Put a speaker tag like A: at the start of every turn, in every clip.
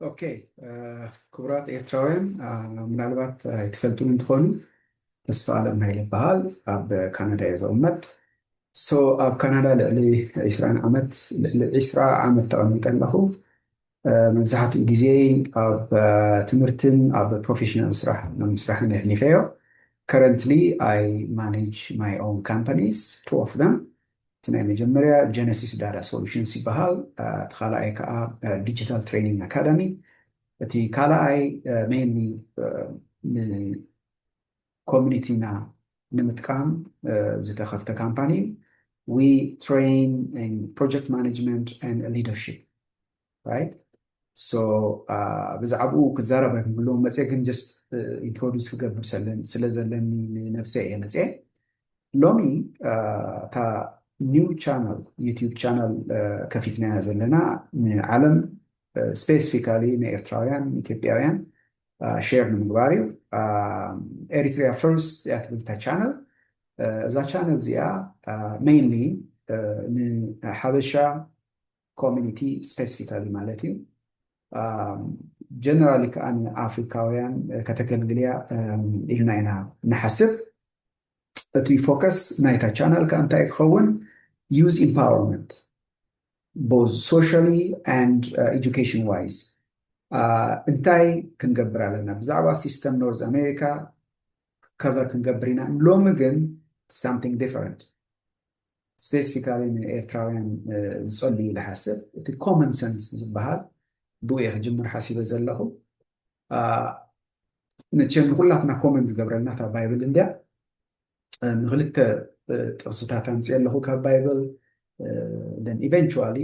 A: ኦኬ ክቡራት ኤርትራውያን ምናልባት ኣይትፈልጡን እንትኾኑ ተስፋ ኣለም ሃይለ ይበሃል ኣብ ካናዳ እየ ዝቕመጥ ሶ ኣብ ካናዳ ልዕሊ 20 ዓመት ልዕሊ 20 ዓመት ተቐሚጠ ኣለኹ መብዛሕትኡ ግዜ ኣብ ትምህርትን ኣብ ፕሮፌሽናል ስራሕ ምስራሕን የሕሊፈዮ ከረንትሊ ኣይ ማኔጅ ማይ ኦን ካምፓኒስ ቱ ኦፍ ደም እቲ ናይ መጀመርያ ጀነሲስ ዳታ ሶሉሽንስ ይበሃል። እቲ ካልኣይ ከኣ ዲጂታል ትሬኒንግ ኣካዳሚ። እቲ ካልኣይ ሜይንሊ ንኮሚኒቲና ንምጥቃም ዝተኸፍተ ካምፓኒ እዩ። ዊ ትሬይን ኢን ፕሮጀክት ማኔጅመንት ኤንድ ሊደርሺፕ። ራይት ሶ ብዛዕብኡ ክዛረብ ኣይክብልዎም መፅየ ግን ጀስት ኢንትሮዲስ ክገብር ስለ ዘለኒ ንነብሰ እየ መፅየ ሎሚ እታ ኒው ቻናል ዩቲዩብ ቻናል ከፊትናያ ዘለና ንዓለም ስፔሲፊካሊ ንኤርትራውያን ኢትዮጵያውያን ሼር ንምግባር እዩ ኤሪትሪያ ፈርስት እያ ትብል እታ ቻነል እዛ ቻነል እዚኣ ሜይንሊ ንሓበሻ ኮሚኒቲ ስፔስፊካሊ ማለት እዩ ጀነራሊ ከዓ ንኣፍሪካውያን ከተገልግልያ ኢልና ኢና ንሓስብ እቲ ፎከስ ናይታ ቻናል ከዓ እንታይ ክኸውን ዩዝ ኢምፓወርመንት ቦዝ ሶሻሊ ንድ ኤጁኬሽን ዋይዝ እንታይ ክንገብር ኣለና ብዛዕባ ሲስተም ኖርዝ ኣሜሪካ ከቨር ክንገብር ኢና ሎሚ ግን ሳምቲንግ ዲፈረንት ስፔሲፊካሊ ንኤርትራውያን ዝጸሉ እዩ ኢለ ሓስብ እቲ ኮመን ሰንስ ዝበሃል ብኡ እየ ክጅምር ሓሲበ ዘለኹ መቸም ንኩላትና ኮመን ዝገብረልና እታ ባይብል እንድያ ንክልተ ጥቕስታት ኣምፅኦ ኣለኹ ካብ ባይብል ን ኢቨንቹዋሊ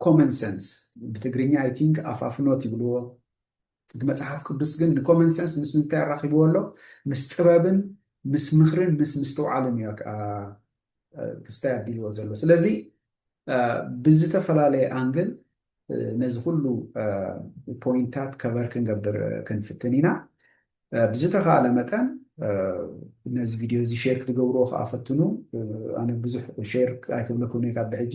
A: ኮመን ሰንስ ብትግርኛ ኣይ ቲንክ ኣፋፍኖት ይብልዎ እቲ መጽሓፍ ቅዱስ ግን ንኮመን ሰንስ ምስ ምንታይ ኣራኺብዎ ኣሎ? ምስ ጥበብን ምስ ምኽርን ምስ ምስትውዓልን እዩ ክስታይ ኣቢልዎ ዘሎ። ስለዚ ብዝተፈላለየ ኣንግል ነዚ ኩሉ ፖይንታት ከበር ክንገብር ክንፍትን ኢና። ብዝተኻእለ መጠን ነዚ ቪድዮ እዚ ሼር ክትገብርዎ ከኣ ፈትኑ። ኣነ ብዙሕ ሼር ኣይክብለኩምን እየ ካብ ብሕጂ።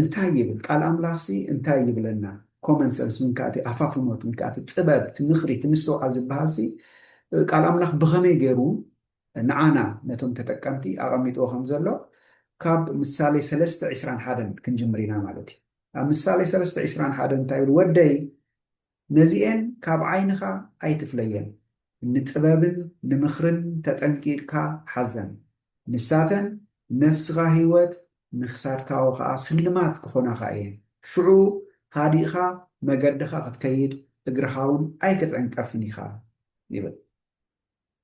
A: እንታይ ይብል ቃል ኣምላኽሲ እንታይ ይብለና ኮመን ሰንስ ወይንከኣ እቲ ኣፋፍኖት ወይንከኣ እቲ ጥበብ እቲ ምኽሪ እቲ ምስትውዓል ዝበሃልሲ ቃል ኣምላኽ ብኸመይ ገይሩ ንዓና ነቶም ተጠቀምቲ ኣቐሚጥዎ ከም ዘሎ ካብ ምሳሌ ሰለስተ ዕስራን ሓደን ክንጅምር ኢና ማለት እዩ ኣብ ምሳሌ ሰለስተ ዕስራን ሓደን እንታይ ይብል ወደይ ነዚኤን ካብ ዓይንኻ ኣይትፍለየን፣ ንጥበብን ንምኽርን ተጠንቂቕካ ሓዘን። ንሳተን ነፍስኻ ህይወት ንክሳድካዎ ኸኣ ስልማት ክኾናኻ እየን። ሽዑ ሃዲእኻ መገድኻ ክትከይድ እግርኻውን ኣይክትዕንቀፍን ኢኻ ይብል።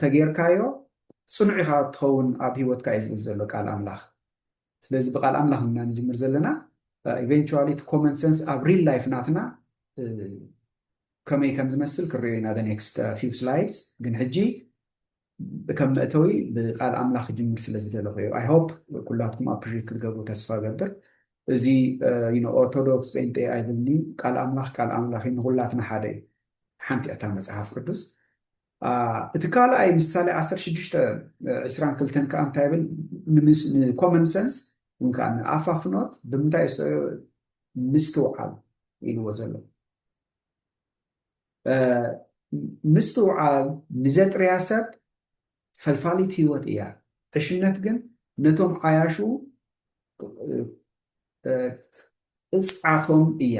A: ተጌርካዮ ጽኑዕ ኢኻ ትኸውን ኣብ ሂወትካ እዩ ዝብል ዘሎ ቃል ኣምላኽ ስለዚ ብቃል ኣምላኽ እና ንጅምር ዘለና ኢቨንቹዋሊ እቲ ኮመን ሰንስ ኣብ ሪል ላይፍ ናትና ከመይ ከም ዝመስል ክረዮ ኢና ኔክስት ፊው ስላይድስ ግን ሕጂ ከም መእተዊ ብቃል ኣምላኽ ክጅምር ስለ ዝደለኹ እዩ ኣይ ሆፕ ኩላትኩም ኣፕሪት ክትገብሩ ተስፋ ገብር እዚ ኦርቶዶክስ ጴንጤ ኣይብልኒ ቃል ኣምላኽ ቃል ኣምላኽ ንኩላትና ሓደ እዩ ሓንቲ'ያ እታ መጽሓፍ ቅዱስ። እቲ ካልኣይ ምሳሌ ዓሰርተ ሽዱሽተ ዕስራን ክልተን ከኣ እንታይ ይብል? ንኮመን ሰንስ ወይ ከዓ ንኣፋፍኖት ብምንታይ የስዕዮ? ምስትውዓል ኢልዎ ዘሎ። ምስትውዓል ንዘጥርያ ሰብ ፈልፋሊት ህይወት እያ፣ ዕሽነት ግን ነቶም ዓያሹ ቅጽዓቶም እያ፣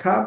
A: ካብ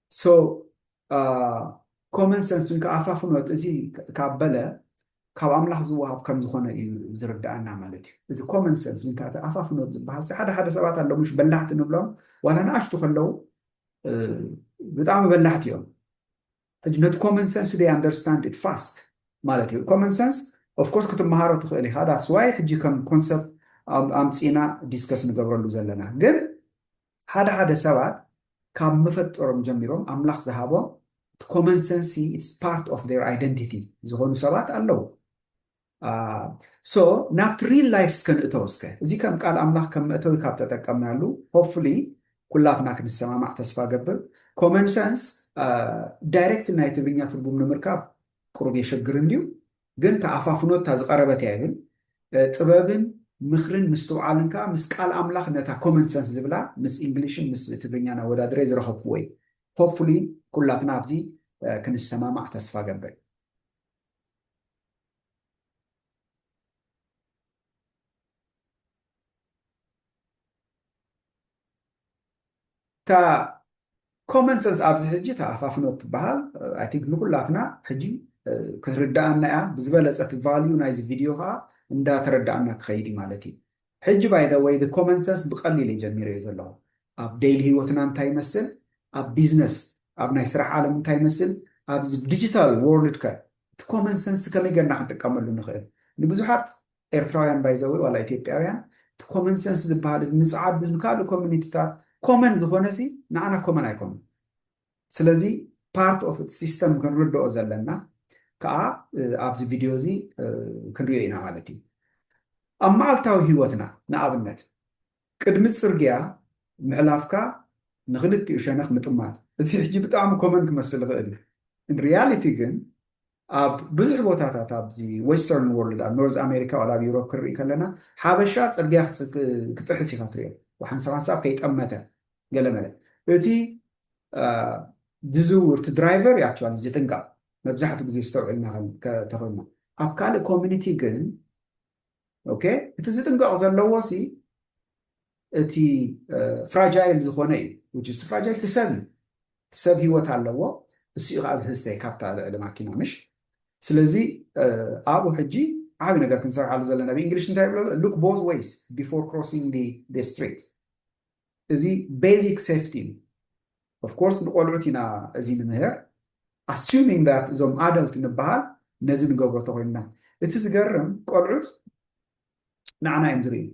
A: so ኮመን ሰንስ ውን ከኣ ፋፍኖት እዚ ካብ በለ ካብ ኣምላኽ ዝወሃብ ከም ዝኾነ እዩ ዝርደኣና ማለት እዩ እዚ ኮመን ሰንስ ውን ከኣ ኣፋፍኖት ዝበሃል እዚ ሓደ ሓደ ሰባት ኣሎ ምሽ በላሕቲ ንብሎም ዋላ ንኣሽቱ ከለው ብጣዕሚ በላሕቲ እዮም ሕጂ ነቲ ኮመን ሰንስ ደይ ኣንደርስታንድ ኢት ፋስት ማለት እዩ ኮመን ሰንስ ኦፍኮርስ ክትመሃሮ ትኽእል ኢኻ ዳትስ ዋይ ሕጂ ከም ኮንሰፕት ኣምፂና ዲስከስ ንገብረሉ ዘለና ግን ሓደ ሓደ ሰባት ካብ መፈጠሮም ጀሚሮም ኣምላኽ ዝሃቦም እቲ ኮመን ሰንሲ ኢትስ ፓርት ኦፍ ዜር ኣይደንቲቲ ዝኾኑ ሰባት ኣለዉ ሶ ናብቲ ሪል ላይፍ እስከ ንእተው እስከ እዚ ከም ቃል ኣምላኽ ከም መእተዊ ካብ ተጠቀምናሉ ሆፕፉሊ ኩላትና ክንሰማማዕ ተስፋ ገብር ኮመን ሰንስ ዳይሬክት ናይ ትግርኛ ትርጉም ንምርካብ ቅሩብ የሸግር እንድዩ ግን ተኣፋፍኖ እታ ዝቀረበት እያ ይብል ጥበብን ምክርን ምስትውዓልን ከኣ ምስ ቃል ኣምላክ ነታ ኮመን ሰንስ ዝብላ ምስ እንግሊሽን ምስ ትግርኛን ኣወዳድሬ ዝረከብኩዎ እዩ ሆፕፉሊ ኩላትና ኣብዚ ክንሰማማዕ ተስፋ ገብር እታ ኮመን ሰንስ ኣብዚ ሕጂ እታ ኣፋፍኖ እትበሃል ኣይ ቲንክ ንኹላትና ሕጂ ክትርድኣና እያ ብዝበለፀ እቲ ቫልዩ ናይዚ ቪድዮ ከዓ እንዳተረድኣና ክኸይድ እዩ ማለት እዩ ሕጂ ባይ ዘ ወይ ኮመን ሰንስ ብቀሊል እየ ጀሚረዮ ዘለኹ ኣብ ደይሊ ህይወትና እንታይ ይመስል ኣብ ቢዝነስ ኣብ ናይ ስራሕ ዓለም እንታይ ይመስል ኣብዚ ዲጂታል ወርልድ ከ እቲ ኮመን ሰንስ ከመይ ገርና ክንጥቀመሉ ንኽእል ንብዙሓት ኤርትራውያን ባይ ዘ ዌይ ዋላ ኢትዮጵያውያን እቲ ኮመን ሰንስ ዝብሃል እዚ ምጽዓድ ንካልእ ኮሚኒቲታት ኮመን ዝኾነሲ ንዓና ኮመን ኣይኮነን ስለዚ ፓርት ኦፍ እቲ ሲስተም ክንርድኦ ዘለና ከኣ ኣብዚ ቪድዮ እዚ ክንሪኦ ኢና ማለት እዩ ኣብ መዓልታዊ ህይወትና ንኣብነት ቅድሚ ጽርግያ ምሕላፍካ ንክልቲኡ ሸነኽ ምጥማት እዚ ሕጂ ብጣዕሚ ኮመን ክመስል ይኽእል እዩ ሪያሊቲ ግን ኣብ ብዙሕ ቦታታት ኣብዚ ወስተርን ዎርልድ ኣብ ኖርዝ ኣሜሪካ ዋላ ኣብ ዩሮፕ ክንርኢ ከለና ሓበሻ ጽርግያ ክጥሕስ ኢኻ ትሪኦ ወሓንሳብ ሓንሳብ ከይጠመተ ገለመለ እቲ ዝዝውር እቲ ድራይቨር ያቸዋል ዝጥንቀቕ መብዛሕትኡ ግዜ ዝተውዕልና ተኾይንና ኣብ ካልእ ኮሚኒቲ ግን ኦኬ እቲ ዝጥንቀቕ ዘለዎ ሲ እቲ ፍራጃይል ዝኾነ እዩ ውጭ እቲ ፍራጃይል ትሰብ እዩ ትሰብ ህይወት ኣለዎ እሱ እዩ ከዓ ዝህሰ ካብታ ልዕሊ ማኪና ምሽ ስለዚ ኣብኡ ሕጂ ዓብ ነገር ክንሰርሓሉ ዘለና ብእንግሊሽ እንታይ ይብሎ ሉክ ቦዝ ወይስ ቢፎር ክሮሲንግ ስትሪት እዚ ቤዚክ ሴፍቲ እዩ ኦፍ ኮርስ ንቆልዑት ኢና እዚ ንምህር ኣሱሚንግ ዳት እዞም ኣደልት ንበሃል ነዚ ንገብሮ ተኮይንና እቲ ዝገርም ቆልዑት ንዓና እዮም ዝርእዩ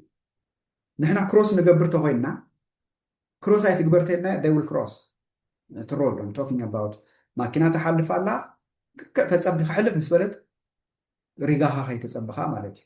A: ንሕና ክሮስ ንገብር ተኮይንና ክሮስ ኣይትግበር ተይልናዮ they will cross እቲ ሮድ I'm talking about ማኪና ተሓልፍ ኣላ ልክዕ ተፀቢ ክሕልፍ ምስ በለት ሪጋኻ ከይተፀብኻ ማለት እዩ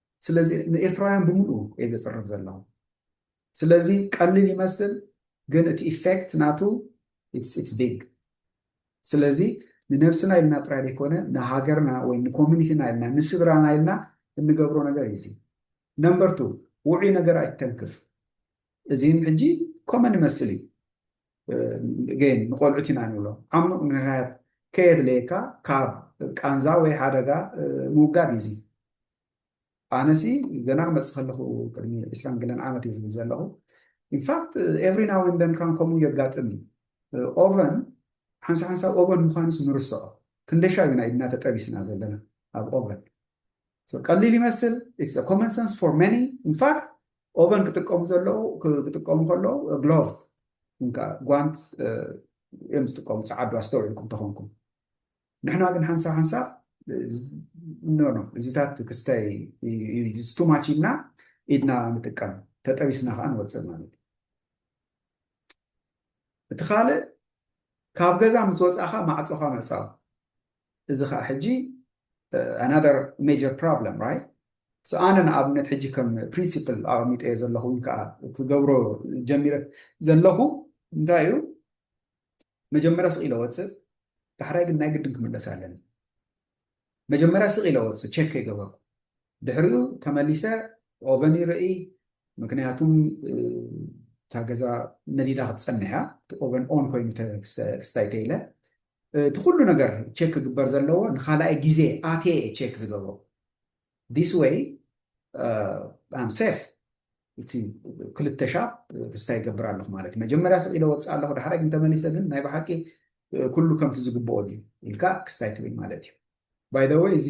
A: ስለዚ ንኤርትራውያን ብምሉኡ እየ ዘጽርፍ ዘለኹ። ስለዚ ቀሊል ይመስል ግን እቲ ኢፈክት ናቱ ኢትስ ቢግ። ስለዚ ንነብስና ኢልና ጥራይ ዘይኮነ ንሃገርና ወይ ንኮሚኒቲና ኢልና ንስድራና ኢልና እንገብሮ ነገር እዩ እዚ። ነምበር ቱ ውዑይ ነገር ኣይትተንክፍ። እዚን ሕጂ ኮመን ይመስል እዩ። ግን ንቆልዑት ኢና ንብሎም ዓሙቕ ምሕያት ከየድለየካ ካብ ቃንዛ ወይ ሓደጋ ምውጋድ እዩ እዚ ኣነሲ ገና ክመፅእ ከለኹ ቅድሚ ዕስራን ገለን ዓመት እዩ ዝብል ዘለኹ ኢንፋክት ኤቭሪ ናው ኤንድ ዘን ካን ከምኡ የጋጥም እዩ ኦቨን ሓንሳ ሓንሳብ ኦቨን ምዃኑስ ንርስዖ ክንደሻብ ኢና ኢድና ተጠቢስና ዘለና ኣብ ኦቨን So ቀሊል ይመስል it's a common sense for many in fact ኦቨን ክጥቀሙ ዘለዉ ክጥቀሙ ከለዉ ግሎቭ እንካ ጓንት እዮም ዝጥቀሙ ፀዓዱ ኣስተውዒልኩም ተኾንኩም ንሕና ግን ሓንሳብ ሓንሳብ ኖኖ እዚታት ክስታይ ስቱማች ኢልና ኢድና ንጥቀም ተጠቢስና ከዓ ንወፅእ ማለት እዩ እቲ ካልእ ካብ ገዛ ምስ ወፃእካ ማዕፆኻ ምዕፃው እዚ ከኣ ሕጂ another major problem right so ኣነ ንኣብነት ሕጂ ከም ፕሪንሲፕል ኣቐሚጠዮ ዘለኹ ወይ ከዓ ክገብሮ ጀሚረ ዘለኹ እንታይ እዩ መጀመርያ ስቕ ኢለ ወፅእ ዳሕራይ ግን ናይ ግድን ክምለስ ኣለኒ መጀመርያ ስቕ ኢለ ወፅእ ቼክ ከይገበርኩ ድሕሪኡ ተመሊሰ ኦቨን ይርኢ ምክንያቱም እታ ገዛ ነዲዳ ክትፀንሕ እያ እቲ ኦቨን ኦን ኮይኑ ክስታይ ተኢለ እቲ ኩሉ ነገር ቸክ ክግበር ዘለዎ ንካልኣይ ግዜ ኣትየ እየ ቸክ ዝገብሮ ዲስ ወይ ኣም ሴፍ እቲ ክልተ ሻብ ክስታይ ይገብር ኣለኹ ማለት መጀመርያ ስቂለ ወፅእ ኣለኹ ዳሕራይ ግን ተመሊሰ ግን ናይ ብሓቂ ኩሉ ከምቲ ዝግብኦ ድዩ ኢልካ ክስታይ ትብል ማለት እዩ ባይ ዘ ወይ እዚ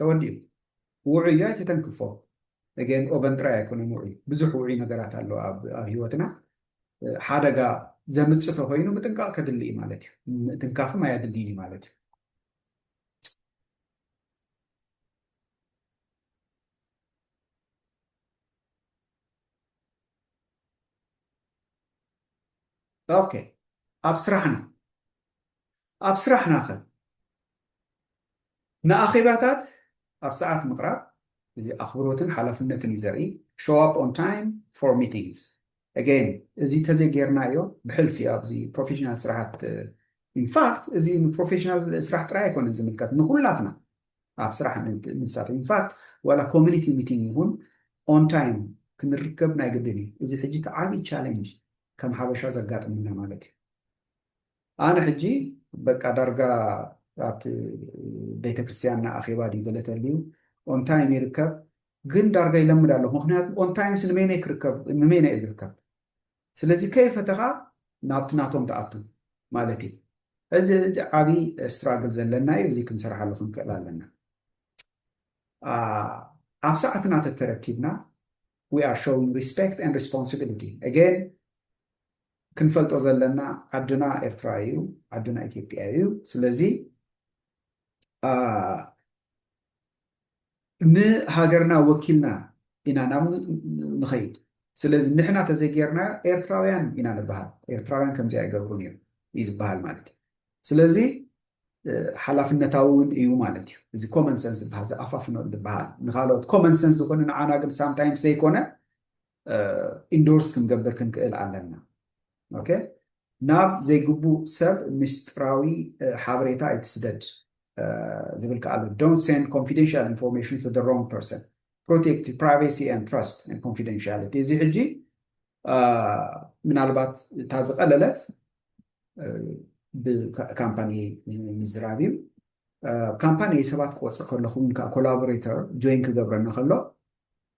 A: ተወዲኡ ውዑይ እዩ ኣይተተንክፎ እገን ኦቨን ጥራይ ኣይኮነን ውዑይ ብዙሕ ውዑይ ነገራት ኣሎ ኣብ ኣብ ህይወትና ሓደጋ ዘምጽእ ተኮይኑ ምጥንቃቕ ከድሊ እዩ ማለት እዩ ምትንካፍም ኣየድልይን እዩ ማለት እዩ ኦኬ ኣብ ስራሕና ኣብ ስራሕና ከ ንኣኼባታት ኣብ ሰዓት ምቕራብ፣ እዚ ኣኽብሮትን ሓላፍነትን እዩ ዘርኢ፣ Show up on time for meetings Again እዚ ተዘይ ጌርናዮ ብሕልፊ እዩ ኣብዚ ፕሮፌሽናል ስራሓት In fact እዚ ንፕሮፌሽናል ስራሕ ጥራይ ኣይኮነን ዝምልከት ንኹላትና ኣብ ስራሕ ንሳተፍ In fact ዋላ ኮሚኒቲ ሚቲንግ ይኹን on time ክንርከብ ናይ ግድን እዩ። እዚ ሕጂ እቲ ዓብዪ ቻሌንጅ ከም ሓበሻ ዘጋጥመና ማለት እዩ። ኣነ ሕጂ በቃ ዳርጋ ኣብቲ ቤተክርስትያንና ኣኼባ ድዩ ገለ ተልዩ ኦንታይም ይርከብ ግን ዳርጋ ይለምድ ኣለኹ ምክንያቱ ኦንታይምስ ንመይነይ ክርከብ ንመይነ እየ ዝርከብ ስለዚ ከይፈተኻ ናብቲ ናቶም ትኣቱ ማለት እዩ ሕጂ ሕጂ ዓብዪ ስትራግል ዘለና እዩ እዚ ክንሰርሓሉ ክንክእል ኣለና ኣብ ሰዓትና ተተረኪብና we are showing respect and responsibility again ክንፈልጦ ዘለና ዓድና ኤርትራ እዩ ዓድና ኢትዮጵያ እዩ ስለዚ ንሃገርና ወኪልና ኢና ናብ ንኸይድ ስለዚ ንሕና ተዘይጌርናዮ ኤርትራውያን ኢና ንበሃል ኤርትራውያን ከምዚ ኣይገብሩን እዮም እዩ ዝበሃል ማለት እዩ ስለዚ ሓላፍነታዊ እውን እዩ ማለት እዩ እዚ ኮመን ሰንስ ዝበሃል ዝኣፋፍኖ ዝበሃል ንካልኦት ኮመን ሰንስ ዝኾነ ንዓና ግን ሳምታይምስ ዘይኮነ ኢንዶርስ ክንገብር ክንክእል ኣለና። ኦኬ ናብ ዘይግቡእ ሰብ ምስጢራዊ ሓበሬታ ኣይትስደድ ዝብል ከዓ ኣሎ ዶንት ሴንድ ኮንፊደንሻል ኢንፎርሜሽን ቱ ዘ ሮንግ ፐርሰን ፕሮቴክት ፕራይቬሲ ን ትረስት ን ኮንፊደንሻሊቲ እዚ ሕጂ ምናልባት እታ ዝቐለለት ብካምፓኒ ምዝራብ እዩ ካምፓኒ ሰባት ክቆፅር ከለኹም ኮላቦሬተር ጆይን ክገብረና ከሎ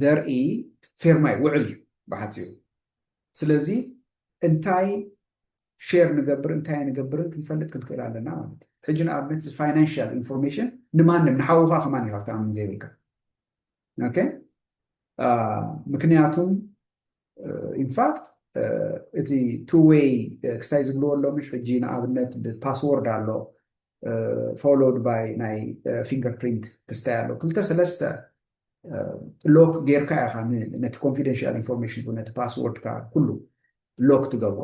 A: ዘርኢ ፌርማይ ውዕል እዩ ብሓፂሩ ስለዚ እንታይ ሼር ንገብር እንታይ ንገብርን ክንፈልጥ ክንክእል ኣለና ማለት እዩ ሕጂ ንኣብነት ፋይናንሽል ኢንፎርሜሽን ንማንም ንሓውካ ከማን ይካብታምን ዘይብልካ ምክንያቱም ኢንፋክት እቲ ቱ ዌይ ክስታይ ዝብልዎ ኣሎ ምሽ ሕጂ ንኣብነት ብፓስዎርድ ኣሎ ፎሎድ ባይ ናይ ፊንገር ፕሪንት ክስታይ ኣሎ ክልተ ሰለስተ ሎክ ጌርካ ኢኻ ነቲ ኮንፊደንሽል ኢንፎርሜሽን ነቲ ፓስዎርድካ ኩሉ ሎክ ትገብሮ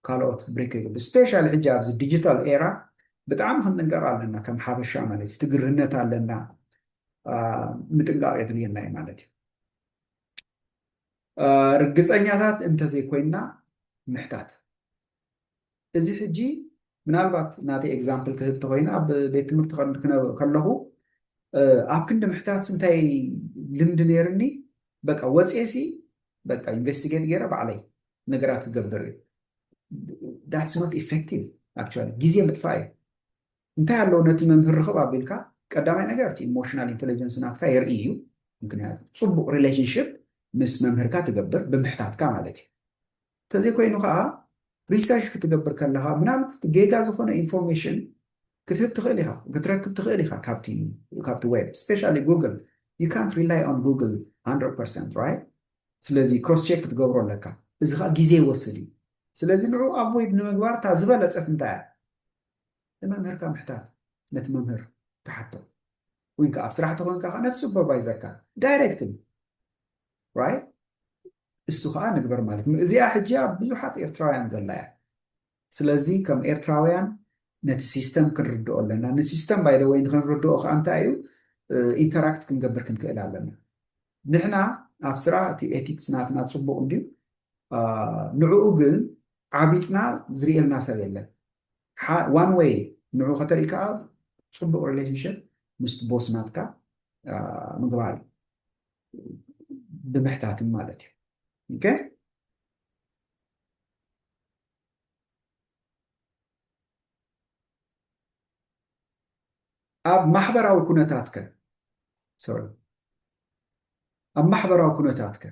A: ካልኦት ብሬክ ይግብ ስፔሻሊ ሕጂ ኣብዚ ዲጂታል ኤራ ብጣዕሚ ክንጥንቀቕ ኣለና ከም ሓበሻ ማለት እዩ ትግርህነት ኣለና ምጥንቃቕ የድልየና እዩ ማለት እዩ ርግጸኛታት እንተዘይኮይንና ምሕታት እዚ ሕጂ ምናልባት ናተይ ኤግዛምፕል ክህብ ተኮይነ ኣብ ቤት ትምህርቲ ከለኹ ኣብ ክንዲ ምሕታት ስንታይ ልምዲ ነይርኒ በቃ ወፅየሲ በቃ ኢንቨስቲጌት ገይረ ባዕለይ ነገራት ክገብር እዩ ዳትስ ኖት ኢፌክቲቭ ኣክቹዋሊ ግዜ ምጥፋእ እዩ እንታይ ኣሎ ነቲ መምህር ርኽብ ኣቢልካ ቀዳማይ ነገር እቲ ኢሞሽናል ኢንተለጀንስ ናትካ የርኢ እዩ ምክንያቱ ጽቡቕ ሪሌሽንሽፕ ምስ መምህርካ ትገብር ብምሕታትካ ማለት እዩ እንተዘይኮይኑ ከዓ ሪሰርች ክትገብር ከለኻ ምናልባት ጌጋ ዝኾነ ኢንፎርሜሽን ክትህብ ትኽእል ኢኻ ክትረክብ ትኽእል ኢኻ ካብቲ ካብቲ ዌብ ስፔሻሊ ጉግል ዩ ካንት ሪላይ ኦን ጉግል 100 ፐርሰንት ራይት ስለዚ ክሮስ ቼክ ክትገብሮ ኣለካ እዚ ከዓ ግዜ ይወስድ እዩ ስለዚ ንዑ ኣቮይድ ንምግባር እታ ዝበለፀት እንታይ እያ ንመምህርካ ምሕታት ነቲ መምህር ትሓቶ ዊን ከኣ ኣብ ስራሕ ተኾንካ ከኣ ነቲ ሱፐርቫይዘርካ ዳይረክትሊ ራይት እሱ ከኣ ንግበር ማለት እዩ እዚኣ ሕጂ ኣብ ብዙሓት ኤርትራውያን ዘላ እያ ስለዚ ከም ኤርትራውያን ነቲ ሲስተም ክንርድኦ ኣለና ንሲስተም ባይ ዘ ወይ ንክንርድኦ ከኣ እንታይ እዩ ኢንተራክት ክንገብር ክንክእል ኣለና ንሕና ኣብ ስራ እቲ ኤቲክስ ናትና ፅቡቅ እንድዩ ንዕኡ ግን ዓቢጥና ዝርእየልና ሰብ የለን ዋን ዌይ ንዑ ከተርኢ ከኣ ጽቡቅ ሪሌሽንሽፕ ምስቲ ቦስ ናትካ ምግባር እዩ ብምሕታትን ማለት እዩ ኦኬ ኣብ ማሕበራዊ ኩነታትከ ሶሪ ኣብ ማሕበራዊ ኩነታትከ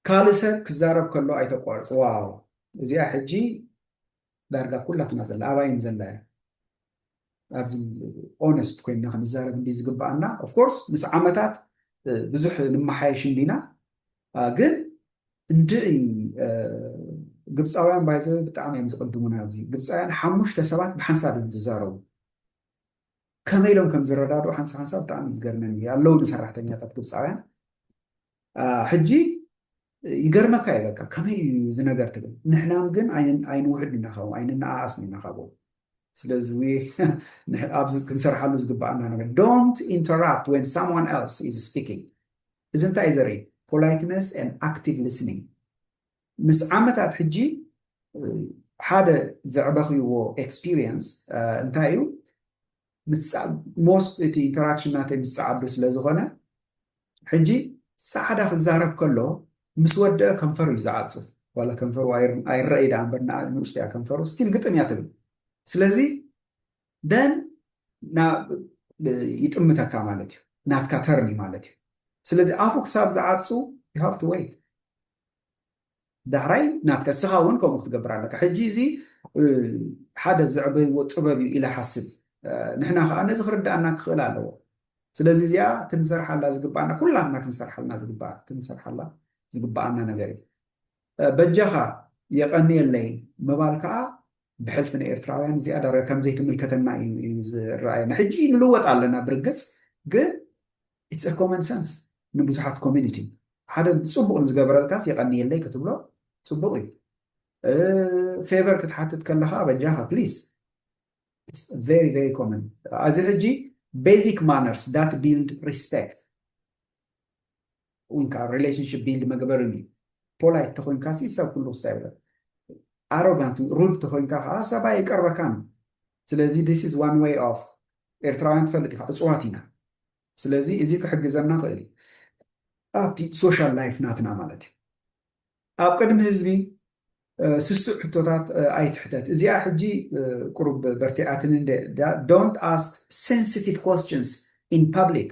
A: ካልእ ሰብ ክዛረብ ከሎ ኣይተቋርጽ። ዋው እዚኣ ሕጂ ዳርጋ ኩላትና ዘላ ኣባይ እዩም ዘላ እያ ኣብዚ ኦነስት ኮይና ክንዛረብ እንዲ ዝግብኣና ኦፍኮርስ ምስ ዓመታት ብዙሕ ንመሓየሽ እንዲና ግን እንድዒ ግብፃውያን ባይዘ ብጣዕሚ እዮም ዝቅድሙና ኣብዚ ግብፃውያን ሓሙሽተ ሰባት ብሓንሳብ እዮም ዝዛረቡ ከመይ ኢሎም ከም ዝረዳድኡ ሓንሳ ሓንሳ ብጣዕሚ ዝገርመን እዩ ኣለውኒ ሰራሕተኛታት ግብፃውያን ሕጂ ይገርመካ እዩ በቃ ከመይ እዩ እዚ ነገር ትብል ንሕናም ግን ኣይንውሕድ ኢና ካብኦም ኣይንነኣኣስን ኢና ካብኦም ስለዚ ኣብዚ ክንሰርሓሉ ዝግባኣና ነገር ዶንት ኢንተራፕት ወን ሳምዋን ኤልስ ኢዝ ስፒኪንግ እዚ እንታይ እዩ ዘርኢ ፖላይትነስ ን ኣክቲቭ ሊስኒንግ ምስ ዓመታት ሕጂ ሓደ ዘዕበኽዎ ኤክስፒሪየንስ እንታይ እዩ ሞስት እቲ ኢንተራክሽን ናተይ ምስ ጸዓዱ ስለ ዝኾነ ሕጂ ጸዓዳ ክዛረብ ከሎ ምስ ወደኣ ከንፈሩ እዩ ዝዓጽፍ ዋላ ከንፈሩ ኣይረኣይ ደኣ እምበር ንእሽቶ እያ ከንፈሩ ስቲል ግጥም እያ ትብል ስለዚ ደን ይጥምተካ ማለት እዩ ናትካ ተርን እዩ ማለት እዩ ስለዚ ኣፉ ክሳብ ዝዓጹ ዩ ሃቭ ቱ ወይት ዳሕራይ ናትካ እስኻ ውን ከምኡ ክትገብር ኣለካ ሕጂ እዚ ሓደ ዘዕበይዎ ጥበብ እዩ ኢለ ሓስብ ንሕና ከኣ ነዚ ክርድኣና ክኽእል ኣለዎ ስለዚ እዚኣ ክንሰርሓላ ዝግብኣና ኩላትና ክንሰርሓልና ዝግብኣ ክንሰርሓላ ዝግብኣና ነገር እዩ በጃኻ የቐንየለይ ምባል ከኣ ብሕልፊ ንኤርትራውያን ዝያዳ ከምዘይትምልከተና እዩ ዝረኣየና ሕጂ ንልወጥ ኣለና ብርግጽ ግን ኢትስ ኤ ኮመን ሰንስ ንብዙሓት ኮሚኒቲ ሓደ ጽቡቅ ንዝገበረልካስ የቀንየለይ ክትብሎ ጽቡቅ እዩ ፌቨር ክትሓትት ከለኻ በጃኻ ፕሊስ ኢትስ ቨሪ ቨሪ ኮመን እዚ ሕጂ ቤዚክ ማነርስ ዳት ቢልድ ሪስፔክት ዊንካ ሪሌሽንሽፕ ቢልድ መግበር እዩ ፖላይት ተኮይንካ ሲ ሰብ ኩሉ ክስታ ይብለ ኣሮጋንት ሩድ ተኮይንካ ከዓ ሰባ ይቀርበካን ስለዚ ዲስ ኢዝ ዋን ዌይ ኦፍ ኤርትራውያን ትፈልጥ ኢኻ ዕጽዋት ኢና ስለዚ እዚ ክሕግዘና ይኽእል እዩ ኣብቲ ሶሻል ላይፍ ናትና ማለት እዩ ኣብ ቅድሚ ህዝቢ ስሱዕ ሕቶታት ኣይትሕተት እዚኣ ሕጂ ቁሩብ በርቲዓትኒ እንደ ዶንት ኣስክ ሴንሲቲቭ ኮስችንስ ኢን ፐብሊክ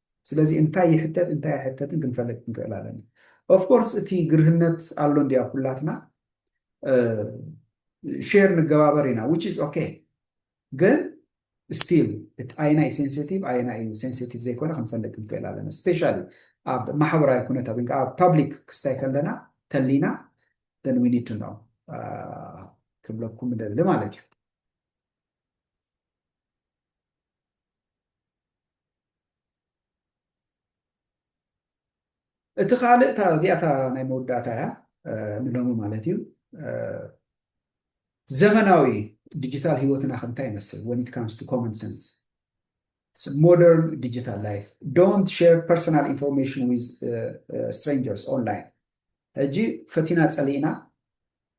A: ስለዚ እንታይ ይሕተት እንታይ ኣይሕተትን ክንፈልጥ ክንክእል ኣለና ኦፍ ኮርስ እቲ ግርህነት ኣሎ እንዲ ኣብ ኩላትና ሼር ንገባበር ኢና ዊች ኢዝ ኦኬ ግን ስቲል እቲ ኣየና እዩ ሴንሲቲቭ ኣየና እዩ ሴንሲቲቭ ዘይኮነ ክንፈልጥ ክንክእል ኣለና ስፔሻሊ ኣብ ማሕበራዊ ኩነታት ወይ ኣብ ፓብሊክ ክስታይ ከለና ተሊና ን ዊ ኒድ ቱ ነው ክብለኩም ደሊ ማለት እዩ እቲ ካልእ እታ እዚኣ እታ ናይ መወዳእታ እያ ንሎሚ ማለት እዩ ዘመናዊ ዲጂታል ህይወትና ከምታይ ይመስል ወን ኢት ካምስ ቱ ኮመን ሰንስ ሞደርን ዲጂታል ላይፍ ዶንት ሼር ፐርሰናል ኢንፎርሜሽን ዊዝ ስትሬንጀርስ ኦንላይን ሕጂ ፈቲና ፀሊእና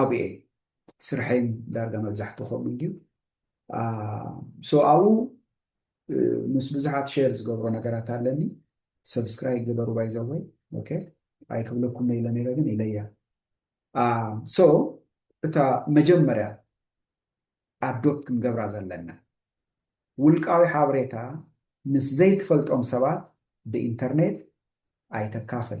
A: ኣብኡ እየ ስርሐይን ዳርጋ መብዛሕትኡ ከምኡ እንድዩ ሶ ኣብኡ ምስ ብዙሓት ሼር ዝገብሮ ነገራት ኣለኒ ሰብስክራይብ ግበሩ ባይዘወይ ኦኬ ኣይክብለኩም ኢለ ነይረ ግን ኢለያ ሶ እታ መጀመርያ ኣዶፕት ክንገብራ ዘለና ውልቃዊ ሓበሬታ ምስ ዘይትፈልጦም ሰባት ብኢንተርኔት ኣይተካፍል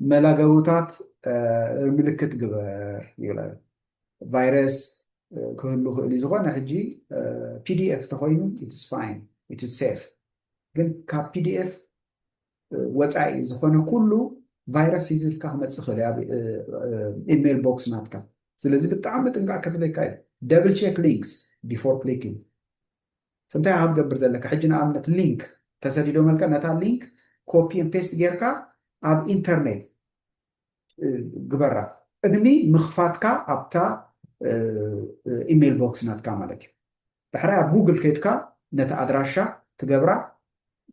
A: መላገቦታት ምልክት ግበር ይብላ። ቫይረስ ክህሉ ይኽእል እዩ። ዝኾነ ሕጂ ፒዲኤፍ ተኾይኑ ኢትስ ፋይን ኢትስ ሴፍ፣ ግን ካብ ፒዲኤፍ ወፃኢ ዝኾነ ኩሉ ቫይረስ ሒዝልካ ክመፅእ ይኽእል ኣብ ኢሜል ቦክስ ናትካ። ስለዚ ብጣዕሚ ምጥንቃቕ ከድልየካ እዩ። ደብል ቼክ ሊንክስ ቢፎር ክሊኪንግ። እንታይ ኢኻ ክትገብር ዘለካ ሕጂ ንኣብነት ሊንክ ተሰዲዶመልካ ነታ ሊንክ ኮፒ ን ፔስት ጌርካ ኣብ ኢንተርኔት ግበራ ቅድሚ ምኽፋትካ ኣብታ ኢሜል ቦክስ ናትካ ማለት እዩ ዳሕራይ ኣብ ጉግል ከድካ ነቲ ኣድራሻ ትገብራ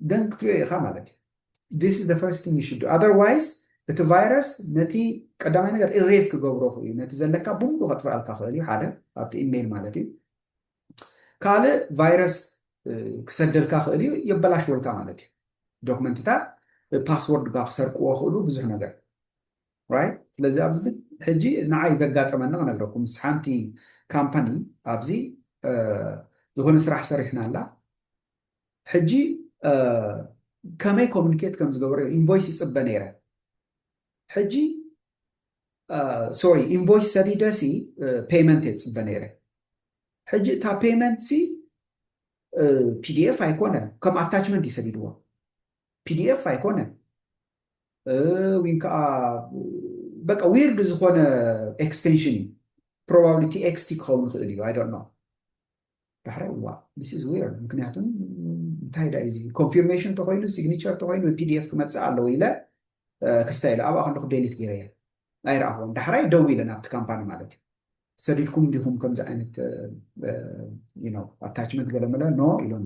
A: ደን ክትሪኦ ኢኻ ማለት እዩ this is the first thing you should do otherwise እቲ ቫይረስ ነቲ ቀዳማይ ነገር ኢሬስ ክገብሮ እዩ ነቲ ዘለካ ብሙሉ ከጥፍኣልካ ክእል እዩ ሓደ ኣብቲ ኢሜይል ማለት እዩ ካልእ ቫይረስ ክሰደልካ ክእል እዩ የበላሽወልካ ማለት እዩ ዶክመንትታት ፓስወርድ ጋ ክሰርቅዎ ክእሉ ብዙሕ ነገር ራይት ስለዚ ኣብዚ ሕጂ ንዓይ ዘጋጠመኒ ክነግረኩም ምስ ሓንቲ ካምፓኒ ኣብዚ ዝኾነ ስራሕ ሰሪሕና ኣላ ሕጂ ከመይ ኮሚኒኬት ከም ዝገበረ ኢንቮይስ ይፅበ ነይረ ሕጂ ሶሪ ኢንቮይስ ሰዲደሲ ፔመንት እየ ዝፅበ ነይረ ሕጂ እታ ፔመንት ሲ ፒዲኤፍ ኣይኮነ ከም ኣታችመንት እዩ ሰዲድዎ ፒዲኤፍ ኣይኮነ ወይ ከዓ በቃ ዊርድ ዝኾነ ኤክስቴንሽን እዩ ፕሮባብሊቲ ኤክስቲ ክኸውን ይኽእል እዩ ኣይ ዶንት ኖ ዳሕራይ እዋእ this is weird ምክንያቱ እንታይ ዳዩ እዚ ኮንፊርሜሽን ተኮይኑ ሲግኒቸር ተኮይኑ ብፒዲኤፍ ክመፅእ ኣለዎ ኢለ ክስታይ ኢለ ኣብኣ ከለኩ ዴሊት ገይረ እየ ኣይረኣኽዎን ዳሕራይ ደው ኢለ ናብቲ ካምፓኒ ማለት እዩ ሰዲድኩም እንዲኹም ከምዚ ዓይነት ኣታችመንት ገለመለ ኖ ኢሎም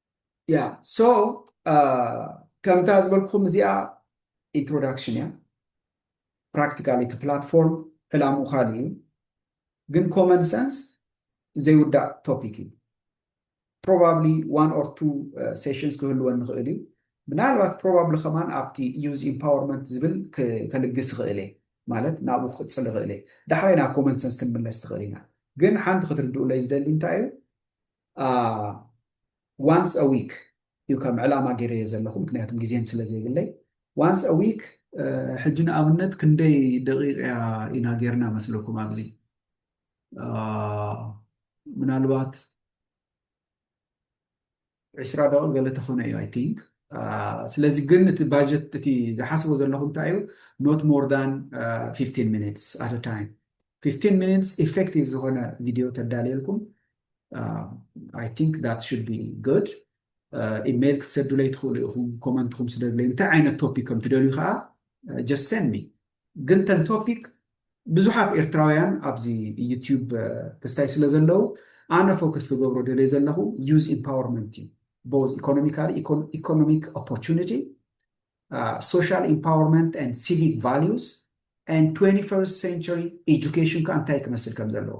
A: ያ ሶ ከምታ ዝበልኩኹም እዚኣ ኢንትሮዳክሽን እያ ፕራክቲካሊ እቲ ፕላትፎርም ዕላምኡ ካልእ እዩ ግን ኮመን ሰንስ ዘይውዳእ ቶፒክ እዩ ፕሮባብሊ ዋን ኦር ቱ ሴሽንስ ክህልወን ንኽእል እዩ ምናልባት ፕሮባብሊ ከማን ኣብቲ ዩዝ ኢምፓወርመንት ዝብል ከልግስ ይኽእል እየ ማለት ናብኡ ክቅፅል ይኽእል እየ ዳሕራይ ናብ ኮመን ሰንስ ክንምለስ ትኽእል ኢና ግን ሓንቲ ክትርድኡለይ ዝደሊ እንታይ እዩ ዋንስ አ ዊክ እዩ ከም ዕላማ ገይረዮ ዘለኹ ምክንያቱም ግዜም ስለ ዘይብለይ ዋንስ አ ዊክ ሕጂ ንኣብነት ክንደይ ደቂቅ እያ ኢና ጌርና መስለኩም ኣብዚ ምናልባት ዕስራ ደቂቅ ገለ ተኾነ እዩ ኣይ ቲንክ ስለዚ ግን እቲ ባጀት እቲ ዝሓስቦ ዘለኹ እንታይ እዩ ኖት ሞር ዳን 15 ሚኒትስ ኣት ታይም 15 ሚኒትስ ኢፌክቲቭ ዝኾነ ቪድዮ ተዳልየልኩም ኣይ ቲንክ ዳት ሹድ ቢ ጉድ ኢመይል ክትሰዱለይ ትኽእሉ ኢኹም ኮመንትኹም ስደዱለይ እንታይ ዓይነት ቶፒክ ከም ትደልዩ ከዓ ጀስት ሰንድ ሚ ግን ተን ቶፒክ ብዙሓት ኤርትራውያን ኣብዚ ዩትዩብ ተስታይ ስለ ዘለዉ ኣነ ፎከስ ክገብሮ ደልየ ዘለኹ ዩዝ ኢምፓወርመንት እዩ ቦዝ ኢኮኖሚካሊ ኢኮኖሚክ ኦፖርቹኒቲ ሶሻል ኢምፓወርመንት ኤንድ ሲቪክ ቫልዩስ ኤንድ ትወንቲ ፈርስት ሴንቸሪ ኤጁኬሽን ከኣ እንታይ ክመስል ከም ዘለዎ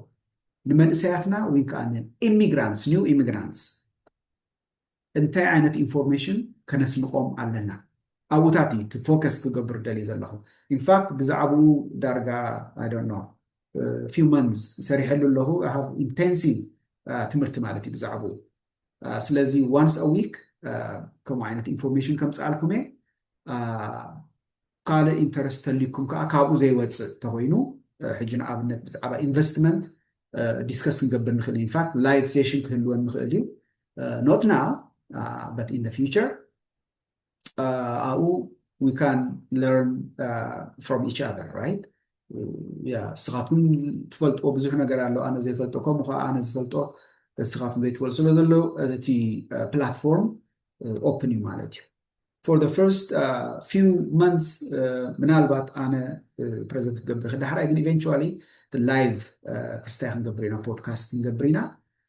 A: ንመንእሰያትና ወይ ከኣ ንኢሚግራንትስ ኒው ኢሚግራንትስ እንታይ ዓይነት ኢንፎርሜሽን ከነስንቆም ኣለና ኣብኡታት እዩ እቲ ፎከስ ክገብር ደልዩ ዘለኹ ኢንፋክት ብዛዕባኡ ዳርጋ ኣይ ዶንት ኖ ፊው መንዝ ሰሪሐሉ ኣለኹ ሃቭ ኢንቴንሲቭ ትምህርቲ ማለት እዩ ብዛዕባኡ ስለዚ ዋንስ ኣ ዊክ ከምኡ ዓይነት ኢንፎርሜሽን ከምፅኣልኩም እየ ካልእ ኢንተረስት ተልይኩም ከዓ ካብኡ ዘይወፅእ ተኮይኑ ሕጂ ንኣብነት ብዛዕባ ኢንቨስትመንት ዲስከስ ክንገብር ንክእል ኢንፋክት ላይቭ ሴሽን ክህልወን ንክእል እዩ ኖት ናው በት ኢን ፊቸር ኣብኡ we can learn from each other right ንስኻትኩም ትፈልጥዎ ብዙሕ ነገር ኣሎ ኣነ ዘይፈልጦ ከምኡ ከዓ ኣነ ዝፈልጦ ንስኻትኩም ዘይትፈልጡ ስለ ዘሎ እቲ ፕላትፎርም ኦፕን እዩ ማለት እዩ for the first uh, few months uh, ምናልባት ኣነ ፕሬዘንት ክገብር ይኽእል ዳሕራይ ግን ኢቨንቹዋሊ ላይቭ ክስታይ ክንገብር ኢና ፖድካስት ክንገብር ኢና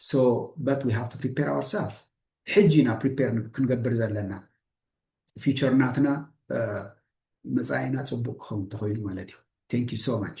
A: so but we have to prepare ourselves ሕጂ ኢና ፕሪፔር ክንገብር ዘለና ፊቸር ናትና መፃኢና ፅቡቅ ክኸውን ተኮይኑ ማለት እዩ ቴንክ ዩ ሶ ማች